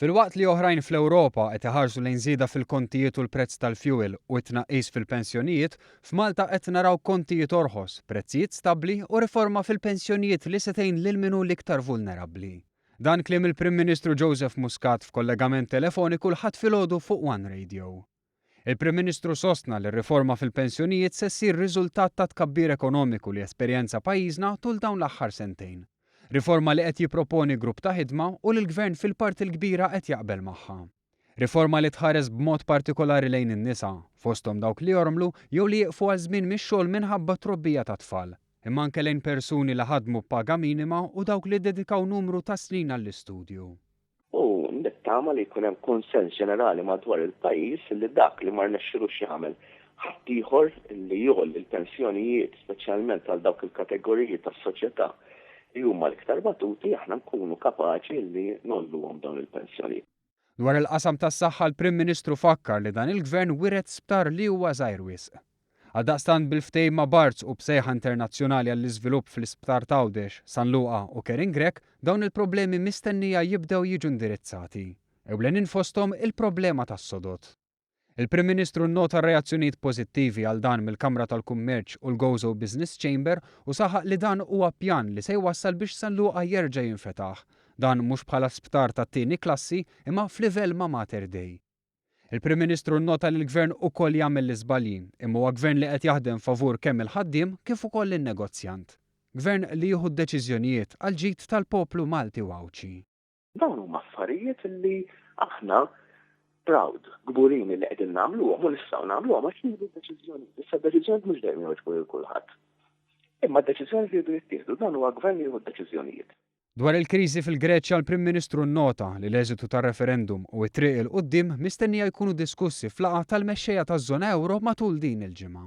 Filwaqt li oħrajn fl-Ewropa qed iħarsu lejn żieda fil-kontijiet u l-prezz tal-fjuwil u t-tnaqqis fil-pensjonijiet, f'Malta qed naraw kontijiet orħos, prezzijiet stabbli u riforma fil-pensjonijiet li se tgħin lil min hu l-iktar vulnerabbli. Dan kliem il-Prim Ministru Joseph Muscat f'kollegament telefoniku l-Ħadd filgħodu fuq one Radio. Il-Prim Ministru sostna li r-riforma fil-pensjonijiet se ssir riżultat tat-tkabbir ekonomiku li esperjenza pajjiżna tul dawn l-aħħar sentejn. Riforma li qed jipproponi grupp ta' ħidma u li l-Gvern fil-parti l-kbira qed jaqbel magħha. Riforma li tħares b'mod partikolari lejn in-nisa, fosthom dawk li jormlu jew li jieqfu għal żmien mix-xogħol minħabba t-trobbija tat-tfal, imma anke lejn persuni li ħadmu b'paga minima u dawk li ddedikaw numru ta' snin għall-istudju. u nittama li jkun hemm kunsens ġenerali madwar il-pajjiż li dak li ma rnexxilux jagħmel ħaddieħor li jgħolli l-pensjonijiet speċjalment għal dawk il-kategoriji tas-soċjetà li huma l-iktar batuti aħna nkunu kapaċi li ngħolluhom dawn il-pensjonijiet. Dwar il-qasam tas-saħħa l-Prim Ministru fakkar li dan il-Gvern wiret sptar li huwa żgħir wisq. Għaldaqstant bil-ftehim ma' Barts u b'sejħa internazzjonali għall-iżvilupp fl-Isptar t'Għawdex, San Luqa u Kering Grech, dawn il-problemi mistennija jibdew jiġu indirizzati. Ewlenin fosthom il-problema tas-sodod. Il-Prim Ministru nnota r-reazzjonijiet pożittivi għal dan mill-Kamra tal-Kummerċ u l-Gozo Business Chamber u saħaq li dan huwa pjan li se jwassal biex San Luqa jerġa' jinfetaħ, dan mhux bħala sptar tat-tieni klassi imma f'livell ma' Mater Dei. Il-Prim Ministru nnota li l-Gvern ukoll jagħmel l-iżbalji, imma huwa Gvern li qed jaħdem favur kemm il-ħaddiem kif ukoll in-negozjant. Gvern li jieħu d-deċiżjonijiet għall-ġid tal-poplu Malti u Għawdxi. Dawn huma affarijiet li aħna proud, kburin li qegħdin nagħmluhom u nistgħu nagħmluhom għax nieħdu d-deċiżjonijiet. Issa d-deċiżjonijiet mhux dejjem jogħġbu lil kulħadd. Imma d-deċiżjonijiet iridu jittieħdu, dan huwa Gvern li jieħu d-deċiżjonijiet. Dwar il-kriżi fil-Greċja l-Prim Ministru nnota li l-eżitu tar-referendum u t-triq 'il quddiem mistennija jkunu diskussi f'laqgħa tal-mexxejja taż-żona ewro matul din il-ġimgħa.